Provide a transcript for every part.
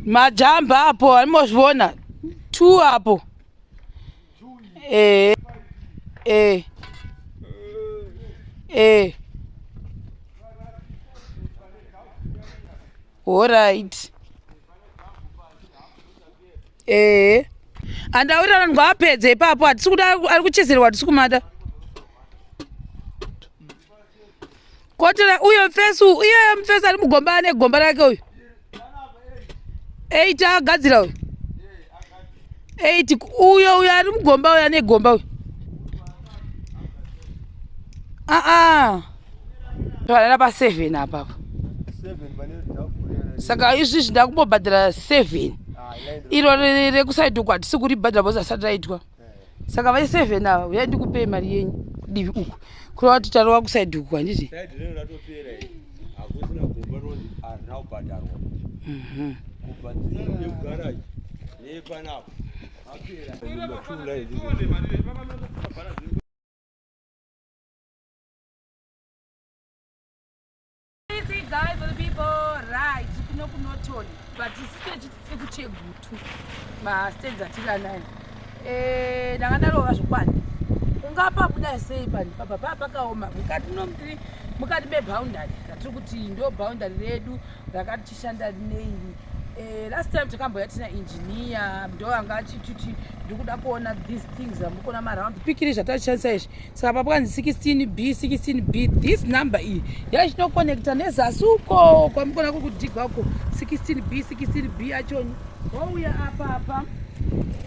majamba apo aimozviona t apo ee ee ee horit ee andaurira vanhu ngavapedze ipapo hatisi kuda ari kuchezerwa hatisi kumada kotera uyo mfesi iyeyo mfesi ari mugomba ane gomba rake uyu eight agadzira uyu eight uyo uyo ari mugomba uyo ane gomba uyu aa varara paseven apapa saka izvi zvinda kumbobhadhara seven ah, iro rekusaidhukwa hatisi kuribhadhara bhozi asati raitwa saka vai seven ava uyai ndikupei mari yenyu kudivi uku kureva kuti tarova kusaidi uku handiti ungapabudai sei pani papa paa pakaoma mukati no mukati meboundary ratiri kuti ndo boundary redu rakati chishanda neiri eh, last time takamboya tina engineer ndo anga achititi ndikuda kuona these things amukona maround pikiri zvatatishandisa izvi saka pakanzi 16 b 16 b this number iyi yachinokonekta nezasi uko kwamukona kukudigwa uko 16 b 16 b yachoni wouya apa apa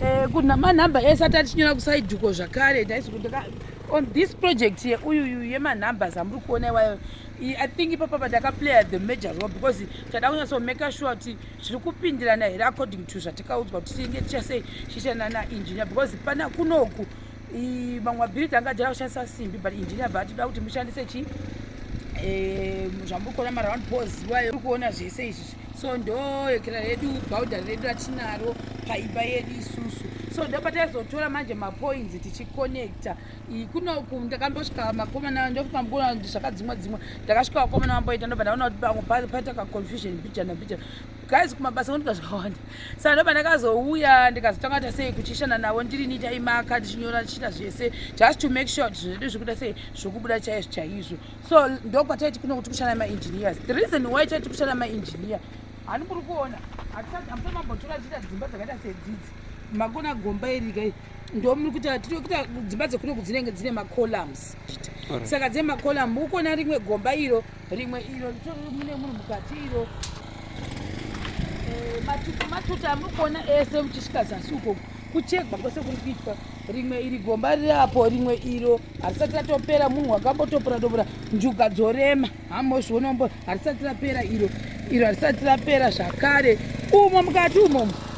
eh, kuna manhamba ese ati atinyora kusaiduko zvakare ndaizokundaka on this project ye uyuyu yemanumbers amuri kuona iwayo i think ipapa patakaplayer the major role because tada kunyatsomake sure kuti zviri kupindirana here according to zvatakaudzwa kuti tinenge tichasei chiitana naengineer because pana kunoku mamwe mabhiriti anga ajaya kushandisa simbi but engineer bva atida kuti mushandise chi eh, zvamukona maround pos waye uri kuona zvese izvi so ndoekera redu bhaudhari redu ratinaro paimba yedu isusu so ndopataizotora manje mapoints tichiconnecta kunoku ndakambosvika makomana ndopamgona zvakadzimwa dzimwa ndakasvika vakomana vamboita ndobva ndaona kuti pamwe paita kaconfusion bijana bijana guys kumabasa kwandiga zvakawanda saka ndoba ndakazouya ndikazotanga kuita sei kuchishana navo ndiri niita imaka ndichinyora ndichiita zvese just to make sure kuti zvinhu zvedu zvikuita sei zvokubuda chaizvo chaizvo so ndokwataiti kuno kuti kushana maengineers the reason why taiti kushana maengineer hani kuri kuona hatisambotora tichiita dzimba dzakaita sedzidzi makona gomba irikai ndomuri kuti tiri kuita dzimba dzekuno kudzinenge dzine macolumns saka dzine macolum ukona rimwe gomba iro rimwe iro ritori mune munhu mukati iro eh, matutu matutu amuri kuona ese muchisvika zasi uko kuchegwa kwese kuri kuitwa rimwe iri gomba riri apo rimwe iro harisati ratopera munhu wakambotopora topora njuga dzorema hamozvionombo harisati rapera iro iro harisati rapera zvakare umo mukati umomo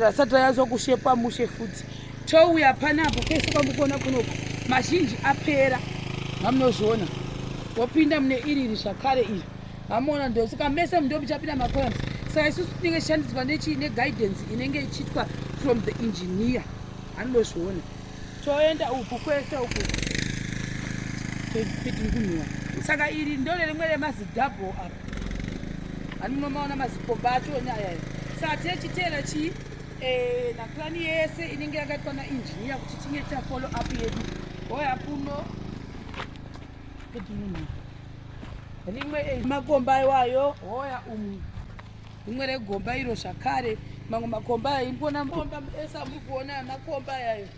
Rasati rayazwa kushepa mushe futi touya panapo pese kwamukona kunoku mazhinji apera mamunozviona wopinda mune iri iri zvakare iri mamuona ndosaka mese mundo muchapinda makolam saka isusu tinenge tichishandidzwa nechii neguidance inenge ichiitwa from the engineer anozviona toenda uku kwese uku tiri kunhuwa saka iri ndore rimwe remazidhabho apa Ani munomaona mazikomba acho nyaya iyi. Sati yechitera chii? Eh, na plan yese inenge yakaitwa na engineer kuti tinge ta follow up yedu. Hoya kuno. Kuti munhu. Rimwe eh, makomba iwayo hoya umu. Rimwe regomba iro zvakare. Mamwe makomba ayo inikuona makomba ese amuri kuona makomba ayo.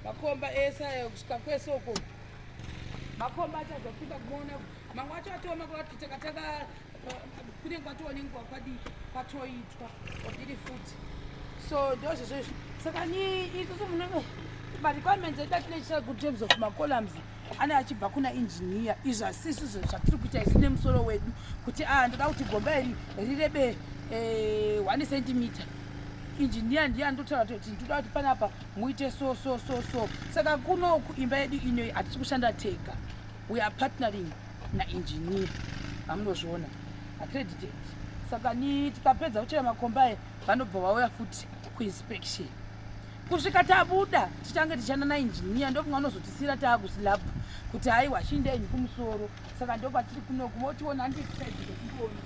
Makomba ese ayo kusvika kwese uko. Makomba achazofika kuona kuti mamwe acho atooma kuvati takataka kunenge kwatova nenguva kwadi kwatoitwa kwabiri futi so ndozvezvo izvo saka ni itusu munenge marequirements edu atinechisa good terms of macolumns ane achibva kuna engineer izvo hasisi izvo zvatiri kuita isu nemusoro wedu kuti a ah, ndoda kuti gomba iri rirebe eh, one centimeter engineer ndiye andotaura kuti ndoda kuti panapa muite so so so so saka kunoku imba yedu inoyi hatisi kushanda tega we are partnering naengineer vamunozviona accredited saka ni tikapedza kuchera makomba aya vanobva vauya futi kuinspection kusvika tabuda tichange tichana naengineer ndokunge anozotisira taakuslab kuti haiwa chindenyi kumusoro saka ndokwatiri kunoku motiona ndikaiona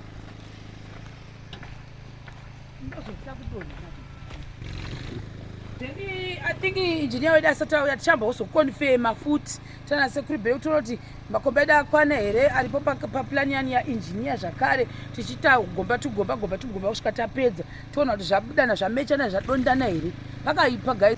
I think engineer wedu asati auya tichamba wozokonfema futi tana sekuru bheu toona kuti makomba edu akwana here aripo papulani yani yaengineer zvakare tichiita gomba tugomba gomba tugomba kusvika tapedza toona kuti zvabudana zvamechana zvadondana here pakaipa guys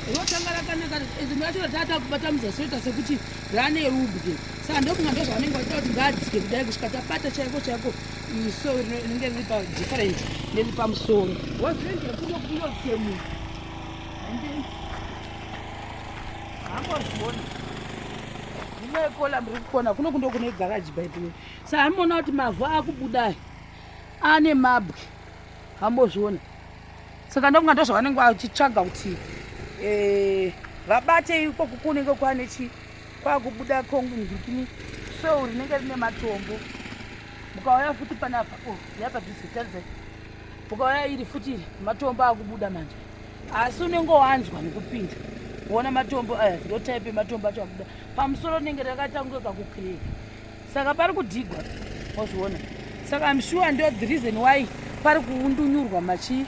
rotanga rakanaka rimwe racho ratata kubata muzasoita sekuti rane rubwe saka ndokunga ndo zvavanenge vachita kuti ngaadzike kudai kusvika tabata chaiko chaiko iso rinenge riri pa different neriri pamusoro wazviendekundokunotemu hambozviona inoikola muri kukona kuno kundo kune garaji baidiwe saka amuona kuti mavhu akubuda ane mabwe hambozviona saka ndokunga ndozvavanenge vachitsvaga kuti eh, vabate ikoku kunenge kwane chi kwakubuda kongu ndikini so rinenge rine matombo mukauya futi panapa oh, yapadhizitarisa mukauya iri futi matombo akubuda manje asi unenge wanzwa nekupinda wona matombo aya ndotaipe matombo acho akubuda pamusoro rinenge rakaita kunge kakukireka saka pari kudigwa wazviona saka im sure ndo the reason why pari kuundunyurwa machi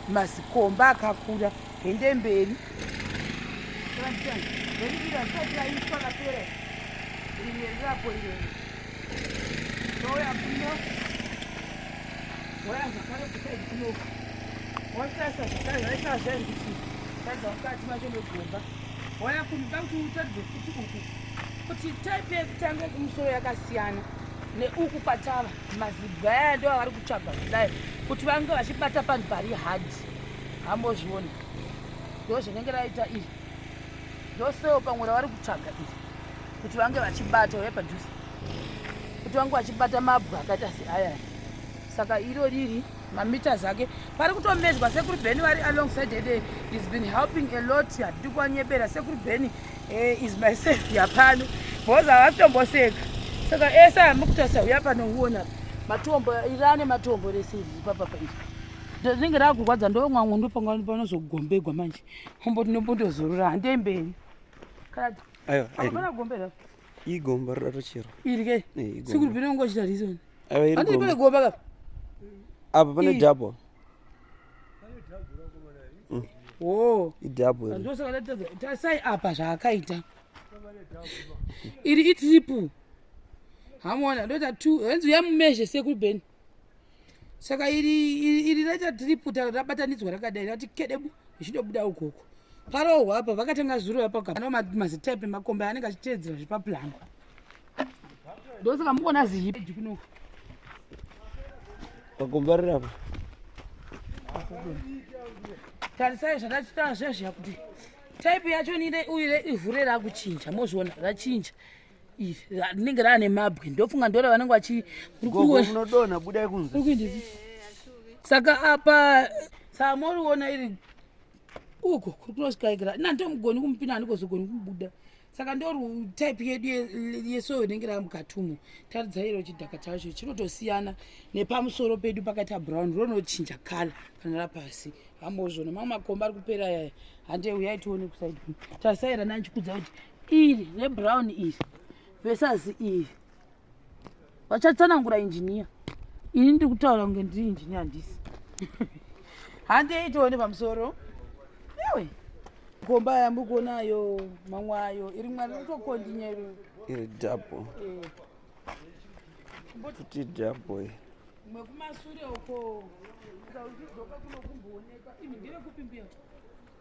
mazikomba akakura hende mberi waitasa zvakare zvaitasa zvairi kuti taidza mukati macho megomba waya kumba kuti utadze futi uku kuti type yekutanga yekumusoro yakasiyana neuku kwatava mazibwa aya ndo avari kutsvaga kudai kuti vange vachibata panhu pari hard hambozviona ndo zvinenge raita iri ndoseo pamwe ravari kutsvaga iri kuti vange vachibata uya padhuze kuti vange vachibata mabwa akaita seayaya saka iro riri mameters ake pari kutomedzwa sekuru beni vari alongside hede is been helping a lot hatidi kuwanyebera sekuru beni eh, is my savior pano bhoza havasitomboseka saka ese eh, amukutasa uya pano uona matombo irane matombo rese iri papapa iri rinenge rakurwadza ndomwangu ndopanga panozogombegwa manje ombo tinombotozorora handei mberi kana gombe igomba roda tocherwa iri kai sikuri pino ngochita reason andiri pane gomba kapa apa pane double mm. wo idabletasai apa zvaakaita iri itriple hamona ndoita two hanzi uyamumezhe sekuri beni saka iri raita tiriputa rabatanidzwa rakadai rati kedebu zvichidobuda ukoko parohwa apa vakatanga zuro vapakano mazitepe makombe anenge achiteedzera zvepapulanga ndosaka muona zihipeji kunoku makombe ariri apa tarisai zvatachita zvezviya kuti type yacho nire uyu ivhu rerakuchinja mozviona rachinja rinenge raane mabwe ndofunga ndora vanenge vachiunodona budai kunze saka apa samoriona iri uko kuri kunosvikaikira na ndomugoni kumupina andikozogoni kumubuda saka ndori type yedu yesoyo rinenge rava mukatumo taridzairo chidhaka chacho chinotosiyana nepamusoro pedu pakaita brown ronochinja kala kana rapasi vambozvona mamwe makomba ari kupera yaya hande uyai tione kusaidi tarisaira nanchikudza kuti iri rebrown iri versus iri vachatsanangura injiniya ini ndiri kutaura kunge ndiri injiniya handisi hande itoone pamusoro ewe komba yambi kuonayo mamwe ayo iri mwari ritokondinyero iri dabo eh. kuti dabo iri mwe kumasure uko ukaudzoka kunokumbooneka ini ndire kupi mbiya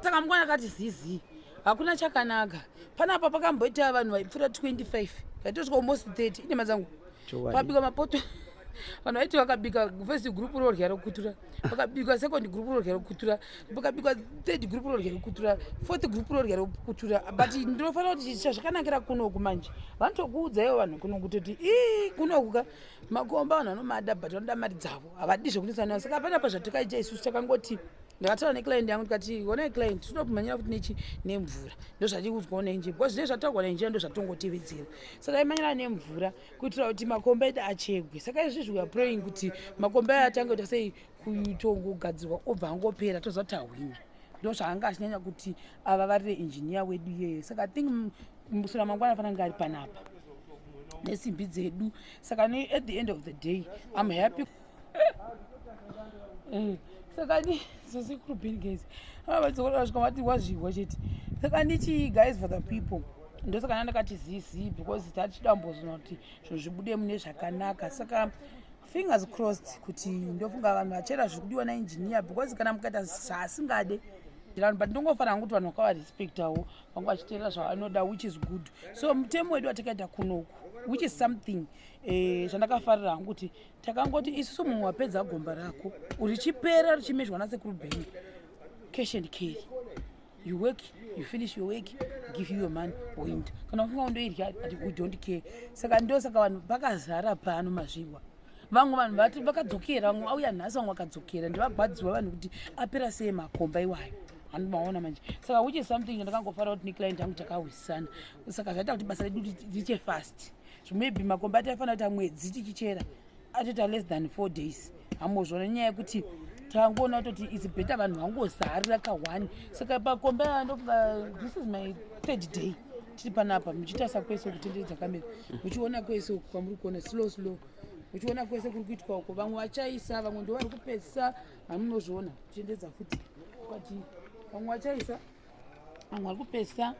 saka mukwana kati zizi hakuna chakanaka panapa pakamboita vanhu vaipfuura 25 vaitosvika almost 30 inema dzangu pabika mapoto vanhu vaiti vakabika first group rorya rokutura vakabika second group rorya rokutura vakabika third group rorya rokutura fourth group rorya rokutura but ndinofanira kuti chazvakanakira kunoku manje vanotokuudza ivo vanhu kuno kutoti ii kunoku ka makomba vanhu vanomada but vanoda mari dzavo havadi zvekunetsa navo saka hapana pazvatakaita isusu takangoti ndakataura neclient yangu tikati honai client tinoda kumhanyira kuti nechi nemvura ndo zvatiri kunzwawo nenjira because zvine zvataurwa nenjira ndo zvatongotevedzera so taimhanyira nemvura kuitira kuti makomba edu achegwe saka izvi zviwa praying kuti makomba ayo atange kuti asei kutongogadzirwa obva angopera toziva kuti ahwina ndozvaanga achinyanya kuti avavarire injiniya wedu iyeye saka i think musura mangwana afanira kunge ari panapa nesimbi dzedu saka ne at the end of the day im happy eh, saka ni sesekuru ben guys avadzokorasvika vati wazvihwa chete saka ni chii guys for the people ndosaka nandakati zizi because tatichidambozona kuti zvinhu zvibude mune zvakanaka saka fingers crossed kuti ndofunga vanhu vachera zvikudiwa naengineer because kana mukaita zvaasingade vanhu but ndongofanira kuti vanhu vakavarespectawo vanga vachiteerera zvavanoda which is good so mutemo wedu watakaita kunoku which is something eh, zvandakafarira hangu kuti takangoti isusu mumwe wapedza gomba rako richipera richimezhwa nasekuru bheni cash and carry you work you finish your work give you your money oint kana ufunga undoirya but we don't care saka ndo saka vanhu vakazara pano mazvirwa vamwe vanhu vati vakadzokera vamwe auya nhasi vamwe vakadzokera ndivagwadziwa vanhu kuti apera sei makomba iwayo andimaona manje saka which is something ndakangofara kuti neclient angu takahwisisana saka zvaita kuti basa redu riche fast maybe makomba ati aifanira kuti amwedzi tichichera atoita less than four days hamozvona nyaya yekuti tangoona kutoti its better vanhu vangozarira kahwani saka pakombe andofunga this is my third day tiri panapa muchitarisa kwese kutenderedza kamera muchiona kwese uku kwamuri kuona slow slow uchiona kwese kuri kuitwa uko vamwe vachaisa vamwe ndo vari kupedzisa hamunozviona kuchendedza futi kati vamwe vachaisa vamwe vari kupedzisa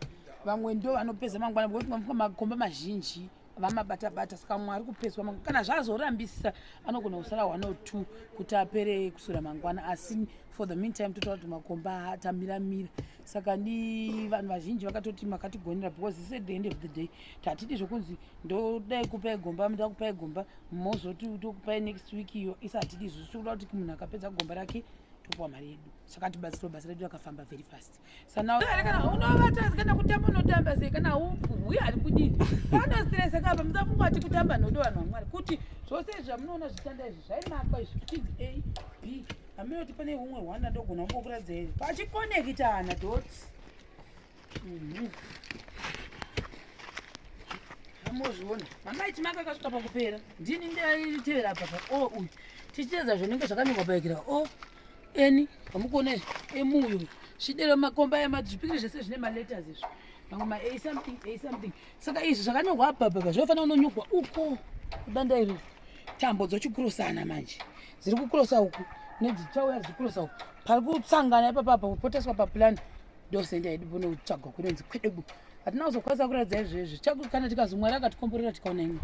vamwe ndo vanopedza mangwana bcause makomba mazhinji vamabata bata saka mumwe ari kupeswa mangwana kana zvazorambisisa anogona kusara one or two kuti apere kusura mangwana asi for the meantime totaura kuti makomba atamiramira saka ni vanhu vazhinji vakatoti makatigonera because this at the end of the day tatidi zvekunzi ndodai kupai gomba nda kupai gomba mozoti tokupai next week iyo isa hatidi izvozvo tikuda kuti munhu akapedza gomba rake tokuwa mari yedu saka tibatsirwa basa redu rakafamba very fast Sana kana unovata kana kutamba unotamba sei kana huya ari kudini kana stress kapa musafunga ati kutamba nodo vanhu vamwari kuti zvose izvi zvamunoona zvitanda izvi zvaimakwa izvi kuti a b hamunoti pane umwe hwana ndogona kumbokuratidza izvi pachikonekitana dot mhm. amozviona mamaiti maka akasvika pakupera ndini ndaitevera apa pa o uyu tichiteedza zvinenge zvakanyorwa paikira o eni amukuona izvi emuuyo zvidero makomba aya mazvipikire zvese zvine maletters izvi mamwe ma a something a something saka izvi zvakanyorwa abhabhaba zvinofanira unonyorwa uko kudanda iri tambo dzochikurosana manje dziri kukurosa uku nedzichauya dzichikurosa uku pari kusangana ipapapa kupoteswa paplan ndosenda yedu pone kutsvagwa kunonzi kwedebu hatina kuzokwanisa kuratidza izvezvi kana tikazomwari akatikomborera tikaona imwe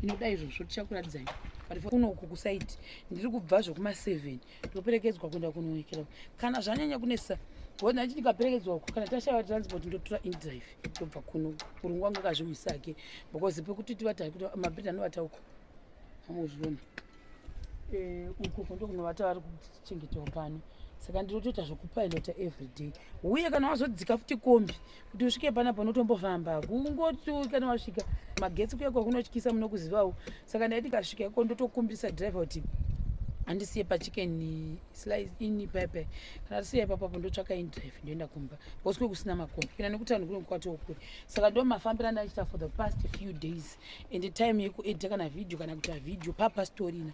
inoda izvozvo tichakuratidzai but kunoku kusaiti ndiri kubva zvekuma seven ndoperekedzwa kuenda kunoonekera kana zvanyanya kunesa wona achiti ndikaperekedzwa uko kana tashaiwa transport ndotora indrive ndobva kuno murungu wangu akazviuyisa ake because pekuti tivata kuti mabhedha anovata uko amuzviona eh, uko kundo kunovata vari kuchengetewa pano saka ndinotoita zvekupilota everyday uye kana wazodzika futi kombi kuti usvike panapa unotombofamba kungoti kana wasvika magetsi kuya kwakunotyisa munokuzivawo saka ndaiti kasvika iko ndotokumbisa driver kuti andisiye pachicken slice ini pepe kana tisiye ipapo apo ndotsvaka indrive ndoenda kumba bcause kwe kusina makombi kuenda nekuti vanhu kunenge kwatokure saka ndo mafambira ndaichita for the past few days and time yeku edita kana video kana kuita video papa storina